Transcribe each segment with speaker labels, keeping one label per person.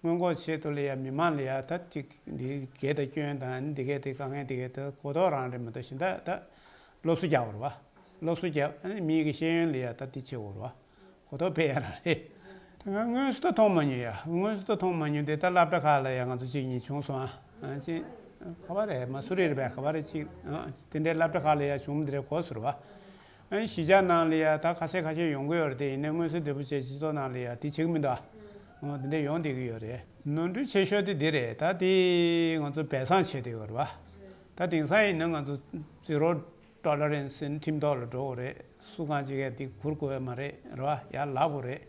Speaker 1: སྔོན་འགོག་ཆེད་དུ་ལི་ཡ་མི་མང་ལི་ཡ་ད་ཅིག་འདི་སྐད་ད་སྐྱོན་དང་འདི་སྐད་དེ་ག་ངས་འདི་སྐད་ད་གོ་རྟོགས་རང་རེད་མི་འདུག་ཤིན་ད་ད་སློབ་གསོ་རྒྱག་བར་བ། སློབ་གསོ་རྒྱག་ཨ་མི་གི་ཤེས་ཡོན་ལི་ཡ་ད་འདི་ཆེ་བོར་བ། གོ་རྟོགས་འཕེལ་ཡ་རང་རེད། ད་ང་དངོས་སུ་ད་མཐོང་མ་མྱོང་ཡ་དངོས་སུ་ད་མཐོང་མ་མྱོང་འདི་ད་བསླབ་གྲྭ་ཁག་ལ་ཡ་ང་ཚོ་གཅིག་གཉིས་བྱུང་སོང་ཨ་ཅེ། ཁ་བ་རེད་མ་སུ་རེད་རེད་བས་ཁ་བ་རེད་གཅིག་ཨ་དེ་འདྲའི་བསླབ་གྲྭ་ཁག་ལ་ཡ་བྱུང་མི་འདི་རེད་གོ་སུ་རེད་བ། གཞིས་ཆགས་ནང་ལ་ཡང་ད་ག་ཚད་ག་ཆད་ཡོང་གི་ཡོད་རེད་དེ་ཡིན་ན་དངོས་གསོལ་འདེབས་པོ་བཅས་སྤྱི་ཚོགས་ནང་ལ་ཡང་དེ་བྱེད་ཀྱི་མི་འདུག་ཨ། འོ་དེ་འདྲས་ཡོང་བསྡད་ཀྱི་ཡོད་རེད། ནོར་འཁྲུལ་ཆེ་ཤོས་དེ་འདི་རེད་ད་དེ་ང་ཚོ་སྦས་གསང་བྱས་ཏེ་ཡོད་རེད། ད་དེང་སང་ཡིན་ན་ང་ཚོ་རྩིས་རོགས་སྐྲ་ལ་རན་སིན་ཁྲིམས་ཐོག་ལ་འགྲོ་དགོས་རེད་སུ་གང་ཅི་གས་འདི་གུར་གོ་བས་མ་རེད་རེད་བ་ཡར་ལག་དགོས་རེད།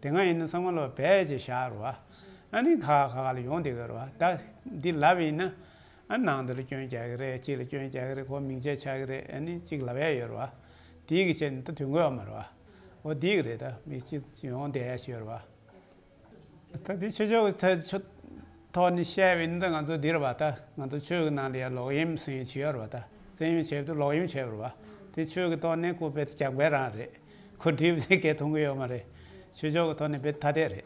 Speaker 1: དེ་སྔ་ཡིན་ན་ས་ངོ་ལ་བ་བས་ཅེས་བཞག་རེད་བ། ཨ་ནི་ག་ག་ག་ལ་ཡོང་བསྡད་ཀྱི་ཡོད་རེད་བ་ད་འདི་ལབ་ཡིན་ན། ཨ་ནང་འདི་ལ་སྐྱོན་རྒྱག་གི་རེད་གཅིག་ལ་སྐྱོན་རྒྱག་གི་རེད་གོ་མིང་ཆད་ཆགས་ཀྱི་རེད་ཨ་ནི་གཅིག་ལ་བས་ཡོད་རེད་བ། དེའི་གི་ཆད་ནི་ད་དུས་འགོད་བ་མ་རེད་བ། འོ་དེའི་གི་རེད་ད་མི་གཅིག་གཅིག་ཡོང་བསྡད་ཡ་ཞུས་རེད་བ། ད་དེ་ཆོས་ཕྱོགས་ཀྱི་ཆོས་ཐོག་ནས་བཤད་བའི་ནི་ད་ང་ཚོ་འདི་རེད་བ་ད་ང་ཚོ་ཆོས་ཀྱི་ནང་དུ་ཡང་ལོག་གཡེམ་ཟིན་བྱས་ཡོད་རེད་བ་ད་བཙན་གཡེམ་བྱས་དུས་ལོག་གཡེམ་བྱས་རེད་བ། དེ་ཆོས་ཀྱི་ཐོག་ནས་ཁོ་བེད་རྒྱག་བས་རང་རེད། ཁོ་བྲིས་པ་ཚད་བརྒལ་མཐོང་གི་ཡོད་མ་རེད། ཆོས་ཕྱོགས་ཀྱི་ཐོག་ནས་བེད་ཐ་དད་རེད།